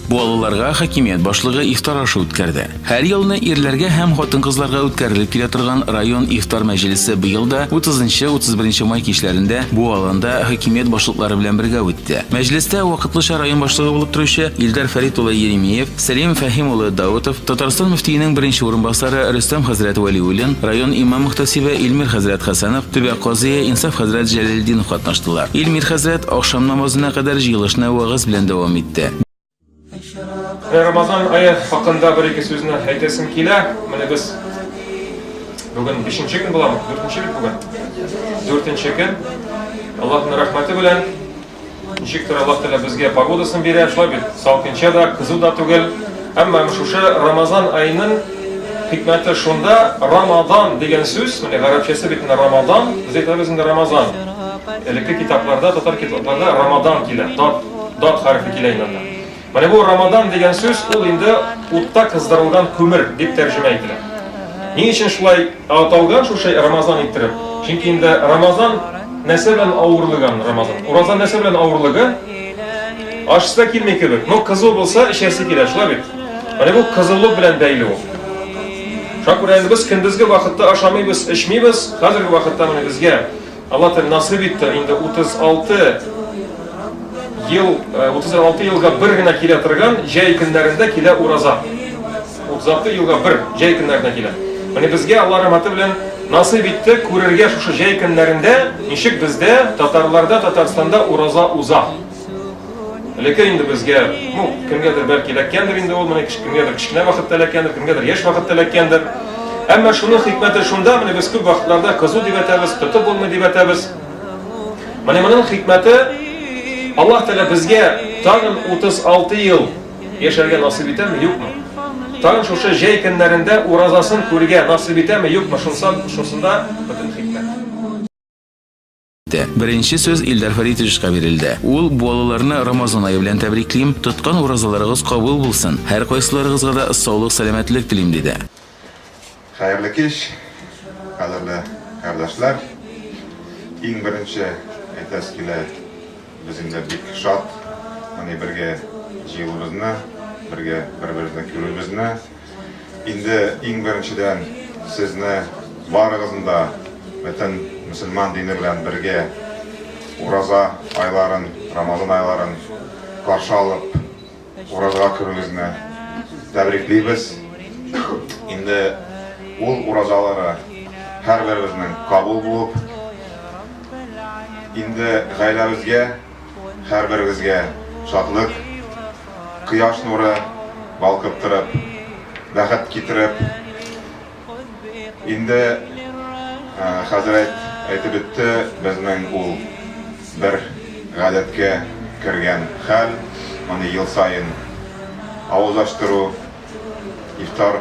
Балаларга хакимият башлыгы ифтар ашы үткәрде. Һәр елны ирләргә һәм хатын-кызларга үткәрелеп килә торган район ифтар мәҗлесе быел да 30-31 май кичләрендә бу аланда хакимият башлыклары белән бергә үтте. Мәҗлестә вакытлыча район башлыгы булып торучы Илдар Фәрит улы Еремеев, Сәлим Фәһим улы Даутов, Татарстан мөфтиенең беренче урынбасары Рөстәм хәзрәт Вәлиуллин, район имам-мөхтәсибе Илмир хәзрәт Хәсәнов, төбәк казые Инсаф хәзрәт Җәләлетдинов катнаштылар. Илмир хәзрәт ахшам намазына кадәр җыелышны вәгазь белән дәвам итте. Менә Рамазан ае хакында бер-ике сүзне әйтәсем килә. Менә без бүген бишенче көн буламы? Дүртенче бит бүген. Дүртенче көн. Аллаһның рәхмәте белән. Ничектер Аллаһ Тәгалә безгә погодасын бирә, шулай бит, салкынча да, кызу да түгел. Әмма шушы Рамазан айының хикмәте шунда, Рамазан дигән сүз, менә гарәпчәсе бит менә Рамазан, без әйтәбез инде Рамазан. Элекке китапларда, татар китапларда Рамазан килә, дат, дат хәрефе килә инде. Менә бу Рамадан дигән сүз ул инде утта кыздырылган күмер дип тәрҗемә ителә. Ни өчен шулай аталган шушы Рамазан иттереп? Чөнки инде Рамазан нәрсә белән авырлыган Рамазан? Ураза нәрсә белән авырлыгы? Ашса килми кебек, но кызу булса эчәсе килә, шулай бит. Менә бу кызулык белән бәйле ул. Шакүрәнебез көндезге вакытта ашамыйбыз, эчмибез, хәзерге вакытта менә безгә Алла тел насыйп итте, инде 36 ел, 36 елга бер генә килә торган җәй көннәрендә килә ураза. 36 елга бер җәй көннәрендә килә. Менә безгә Алла рәхмәте белән насыйп итте күрергә шушы җәй көннәрендә, ничек бездә татарларда Татарстанда ураза уза. Элекке инде безгә, ну, кемгәдер бәлки эләккәндер инде ул, менә кемгәдер кечкенә вакытта эләккәндер, кемгәдер яшь вакытта эләккәндер. Әмма шуның хикмәте шунда, менә без күп вакытларда кызу дип әйтәбез, тотып булмый дип әйтәбез. Менә моның хикмәте Аллаһ Тәгалә безгә тагын 36 ел яшәргә насыйп итәме, юкмы? Тагын шушы җәй көннәрендә уразасын күргә насыйп итәме, юкмы? Шунсам, шусында бөтен хикмәт. итте. Беренче сүз Илдар Фәритовичка бирелде. Ул балаларны Рамазан ае белән тәбриклим, тоткан уразаларыгыз кабул булсын, һәркайсыларыгызга да саулык, сәламәтлек телим, диде. Хәерле кич, кадерле кардәшләр! Иң беренче әйтәсе килә, без инде бик шат, мондый бергә җыелуыбызны, бергә бер-беребезне күрүебезне. Инде иң беренчедән сезне барыгызны да бөтен мөселман дине белән бергә Ураза айларын, Рамазан айларын каршы алып, Уразага керүегезне тәбриклибез. Инде ул уразалары һәрберебезнең кабул булып, инде гаиләбезгә һәрберегезгә шатлык, кояш нуры балкып торып, бәхет китереп. Инде хәзрәт әйтеп үтте, безнең ул бер гадәткә кергән хәл, моны ел саен авыз ачтыру, ифтар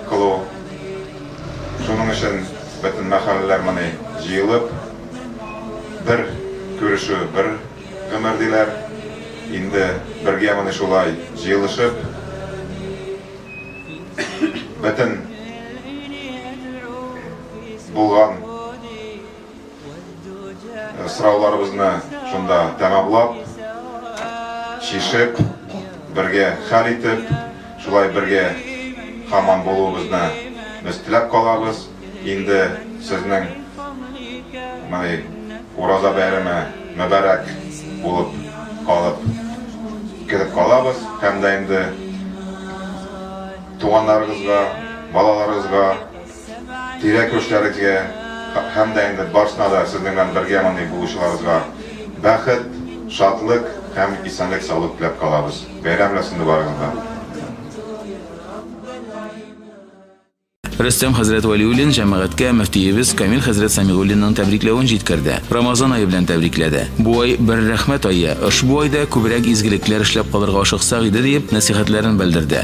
кылу. Шуның өчен бөтен мәхәлләләр моны җыелып, бер күрешү, бер гомер диләр. Инде бергә моны шулай җыелышып, бөтен булган Сорауларыбызны шунда тәмамлап, чишеп, бергә хәл итеп, шулай бергә хаман булуыбызны без теләп калабыз. Инде сезнең мондый ураза бәйрәме мөбарәк булып калып кереп калабыз һәм дә инде туганнарыгызга, балаларыгызга Тирә-күршеләрегезгә һәм дә инде барсына да сезнең белән бергә мондый булучыларыбызга бәхет, шатлык һәм исәнлек-саулык теләп калабыз. Бәйрәм белән сезне барыгызны да! Рөстәм хәзрәт Вәлиуллин җәмәгатькә мөфтиебез Камил хәзрәт Сәмигуллинның тәбрикләвен җиткерде, Рамазан ае белән тәбрикләде. Бу ай, бер рәхмәт ае, ошбу айда күбрәк изгелекләр эшләп калырга ашыксак иде, диеп, нәсыйхәтләрен белдерде.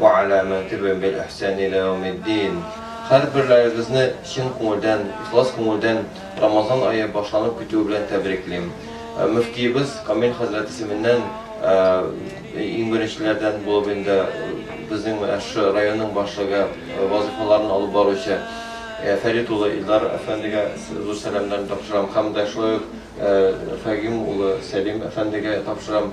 Вә ала мэн тибэм бил ихсани илэ яумид дин Хәрберләрегезне чын күңелдән, ихлас күңелдән Рамазан ае башланып китүе белән тәбриклим. Мөфтиебез Камил хәзрәт исеменнән иң беренчеләрдән булып инде безнең менә шушы районның башлыгы вазыйфаларын алып баручы Фәрит улы Илдар әфәндегә зур сәламнәрне тапшырам һәм дә шулай ук Фәгыйм улы Сәлим әфәндегә тапшырам.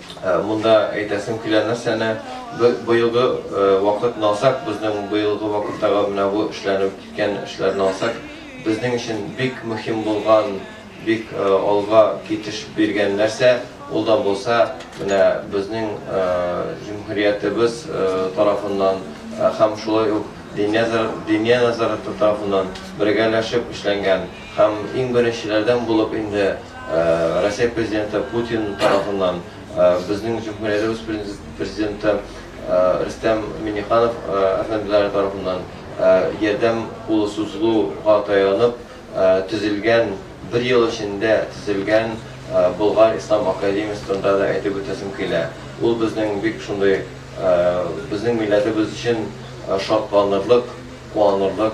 Монда әйтәсем килә нәрсәне, быелгы вакытны алсак, безнең быелгы вакыттагы менә бу эшләнеп киткән эшләрне алсак, безнең өчен бик мөһим булган, бик алга китеш биргән нәрсә, ул да булса, менә безнең җөмһүриятебез тарафыннан һәм шулай ук Диния нәзарәте тарафыннан бергәләшеп эшләнгән, Һәм иң беренчеләрдән булып инде Россия Президенты Путин тарафыннан безнең Җөмһүриябез Президенты Рөстәм Миңнеханов әфәнделәре тарафыннан ярдәм кулы сузылуга таянып төзелгән, бер ел эчендә төзелгән Болгар ислам академиясе турында да әйтеп үтәсем килә. Ул безнең бик шундый безнең милләтебез өчен шатланырлык, куанырлык.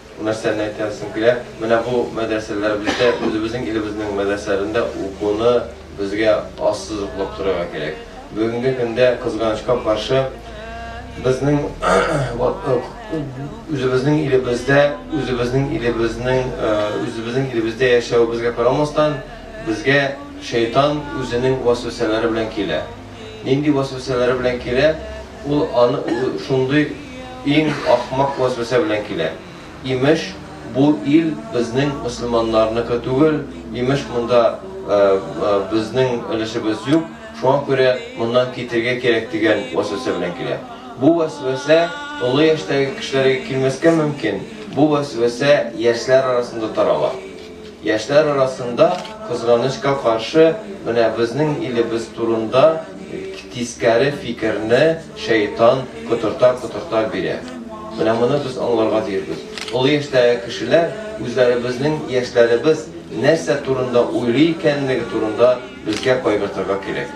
Нәрсәне әйтәсең килә, менә бу мәдрәсәләребездә, үзебезнең илебезнең мәдрәсәләрендә укуны безгә ассызыклап торырга кирәк. Бүгенге көндә, кызганычка каршы, безнең үзебезнең илебездә, үзебезнең илебезнең, үзебезнең илебездә яшәвебезгә карамастан, безгә Шәйтан үзенең вәсвәсәләре белән килә. нинди вәсвәсәләре белән килә, ул аны шундый иң ахмак вәсвәсә белән килә, имеш, бу ил безнең мөселманнарныкы түгел, имеш, монда безнең өлешебез юк, шуңа күрә моннан китергә кирәк дигән вәсвәсә белән килә. Бу вәсвәсә олы яшьтәге кешеләргә килмәскә мөмкин, бу вәсвәсә яшьләр арасында тарала. Яшьләр арасында, кызганычка каршы, менә безнең илебез турында тискәре фикерне шәйтан котырта-котырта бирә. Менә моны без аңларга тиешбез. Олы яшьтәге кешеләр үзләребезнең яшьләребез нәрсә турында уйлый икәнлеге турында безгә кайгыртырга кирәк.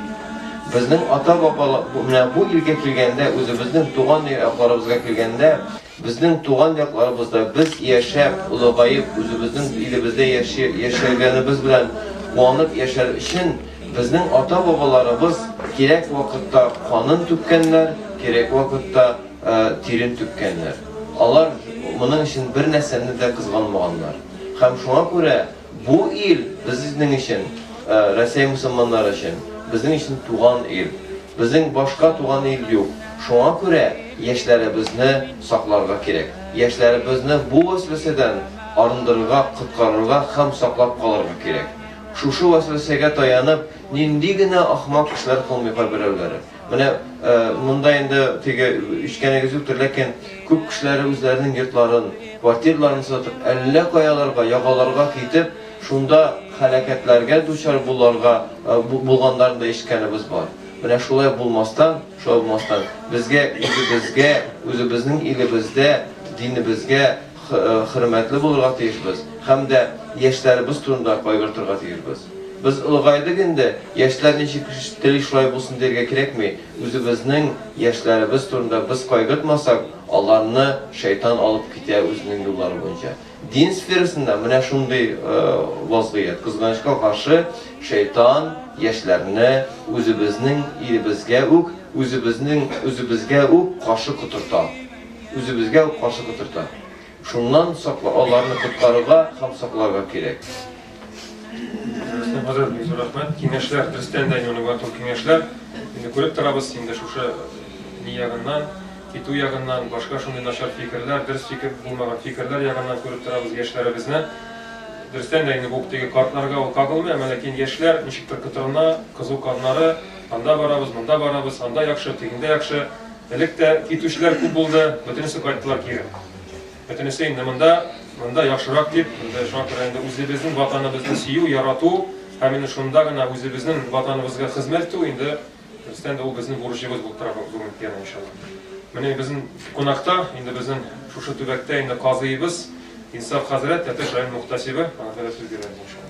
Безнең ата-бабалар, менә бу илгә килгәндә, үзебезнең туган якларыбызга килгәндә, Безнең туган якларыбызда без яшәп, олыгаеп, үзебезнең илебездә яши, яшәгәнебез белән куанып яшәр өчен, безнең ата-бабаларыбыз кирәк вакытта канын түккәннәр, кирәк вакытта тирен түккәннәр. Алар моның өчен бернәрсәне дә кызганмаганнар. Һәм шуңа күрә. Бу ил, безнең өчен, Рәсәй мөселманнары өчен, безнең өчен туган ил. Безнең башка туган ил юк. Шуңа күрә яшьләребезне сакларга кирәк. Яшьләребезне бу вәсвәсәдән арындырырга, коткарырга һәм саклап калырга кирәк. Шушы вәсвәсәгә таянып, нинди генә ахмак эшләр кылмый кайберәүләре. Менә монда инде теге үчкәнегез юктыр, ләкин күп кешеләре үзләренең йортларын, квартирларын сатып, әллә каяларга, ягаларга китеп, шунда хәлакәтләргә дучар буларга булганнарын да ишеткәнебез бар. Менә шулай булмастан, шулай булмастан, безгә үзебезгә, үзебезнең илебездә, динебезгә, хөрмәтле булырга тиешбез һәм дә яшьләребез турында кайгыртырга тиешбез. Без олыгайдык инде, яшьләр ничек тели шулай булсын дияргә кирәкми, үзебезнең яшьләребез турында без кайгыртмасак, аларны шәйтан алып китә үзенең юллары буенча. Дин сферасында менә шундый вазгыять, кызганычка каршы, шәйтан яшьләрне үзебезнең илебезгә үк, үзебезнең үзебезгә үк каршы котырта. Үзебезгә үк каршы котырта. Шуннан сакла, аларны коткарырга һәм сакларга кирәк. Хәзер бик зур рәхмәт. Киңәшләр, дөрестән дә инде матур киңәшләр. Инде күреп торабыз, инде шушы ни ягыннан, китү ягыннан, башка шундый начар фикерләр, дөрес фикер булмаган фикерләр ягыннан күреп торабыз яшьләребезне. Дөрестән дә инде бу теге картларга ул кагылмый, әмма ләкин яшьләр ничектер котырына, кызу каннары, анда барабыз, монда барабыз, анда яхшы, тегендә яхшы. Элек тә китүчеләр күп булды, бөтенесе кайттылар кире. Бөтенесе инде монда, монда яхшырак дип, инде шуңа күрә инде үзебезнең ватаныбызны сөю, ярату һәм инде шунда гына үзебезнең ватаныбызга хезмәт итү инде Рөстәм дә ул безнең бурычыбыз булып тора бүгенге тема иншалла. Менә безнең кунакта, инде безнең шушы төбәктә инде казыйыбыз Инсаф хәзрәт, Тәтеш район мухтасибы, аңа да сүз бирәбез иншалла.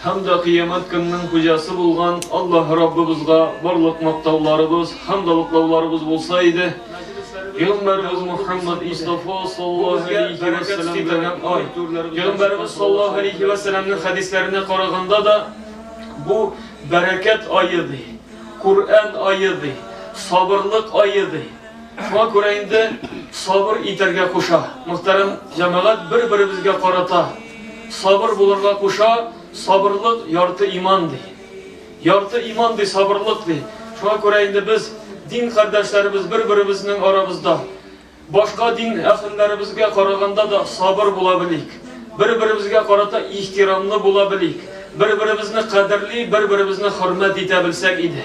Һәм дә Кыямәт көненең Хуҗасы булган Аллаһ Раббыбызга барлык мактауларыбыз, хәмдалыклауларыбыз булса иде, Пәйгамбәребез Мөхәммәд Мостафа саллаллаһу алейһи вә сәламгә ай. Пәйгамбәребез саллаллаһу алейһи вә сәламнең хәдисләренә караганда да, бу бәрәкәт ае ди, Коръән ае ди, сабырлык ае ди. Шуңа күрә инде сабыр итәргә куша. Мөхтәрәм җәмәгать, бер-беребезгә карата сабыр булырга куша, сабырлык ярты иман ди. Ярты иман ди сабырлык ди. Шуңа күрә инде без дин кардәшләребез бер-беребезнең арабызда башка дин әһелләребезгә караганда да сабыр була белик. Бер-беребезгә карата ихтирамлы була белик. Бер-беребезне кадерли, бер-беребезне хөрмәт итә белсәк иде.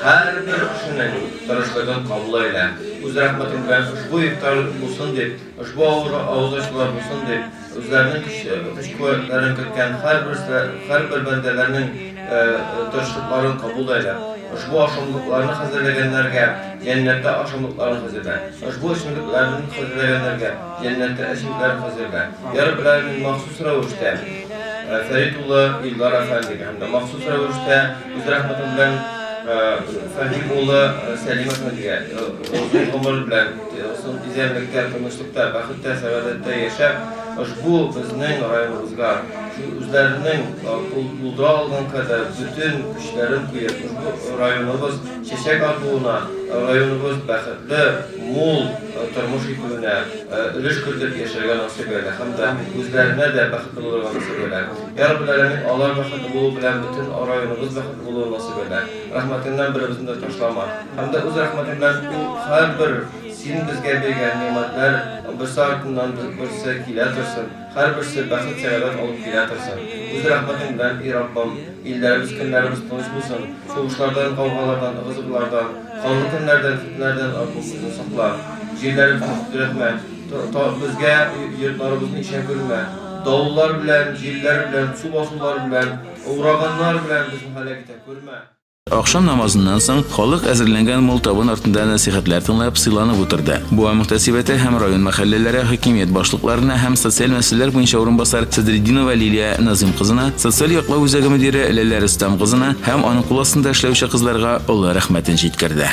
Һәрбер кешенең тырышлыгын кабул әйлә, үз рәхмәтең белән ошбу ифтар булсын дип, ошбу авылга авыз ачулар булсын дип, үзләренең көч-куәтләрен керткән һәрбер бәндәләрнең тырышлыкларын кабул әйлә, ошбу ашамлыкларны хәзерләгәннәргә җәннәттә ашамлыкларын хәзерлә, ошбу эчемлекләрен хәзерләгәннәргә җәннәттә эчемлекләрен хәзерлә, йа Раббел Галәмин, махсус рәвештә Фәрит улы Илдар әфәндегә һәм дә махсус рәвештә Үз рәхмәтем белән Фәһим улы Сәлим әфәндегә озын гомер белән, озын тизәнлектә, тынычлыкта, бәхеттә, сәгадәттә яшәп, ошбу безнең районыбызга үзләренең булдыра алган кадәр бөтен көчләрен куеп, ошбу районыбыз чәчәк атуына, районыбыз бәхетле, мул тормыш итүенә өлеш кертеп яшәргә насыйп әйтә һәм дә үзләренә дә бәхетле булырга насыйп әйтә. Яр Гөләләнең алар бәхетле булуы белән бөтен районыбыз бәхетле булуын насыйп әйтә. Рәхмәтеңнән беребезне дә ташлама. Һәм дә үз рәхмәтең белән ул һәрбер син безгә биргән нигъмәтләр берсе артыннан берсе килә торсын. Һәрберсе бәхет сәгадәт алып килә торсын. Үз рәхмәтең белән, и Раббым, илләребез көннәребез тыныч булсын. Сугышлардан, гаугалардан, ыгы-зыгылардан, канлы көннәрдән, фетнәләрдән Раббым безне сакла. Җирләребезне тетрәтмә. Безгә йортларыбызны ишә күрмә. Давыллар белән, җилләр белән, су басулар белән, ураганнар белән безне һәлак итә күрмә. Ахшам намазыннан соң халык әзерләнгән мул табын артында нәсыйхәтләр тыңлап, сыйланып утырды. Буа мөхтәсибәте һәм район мәхәлләләре хакимият башлыкларына һәм социаль мәсьәләләр буенча урынбасар Садретдинова Лилия Назыйм кызына, социаль яклау үзәге мөдире Ләлә Рөстәм кызына һәм аның кул астында эшләүче кызларга олы рәхмәтен җиткерде.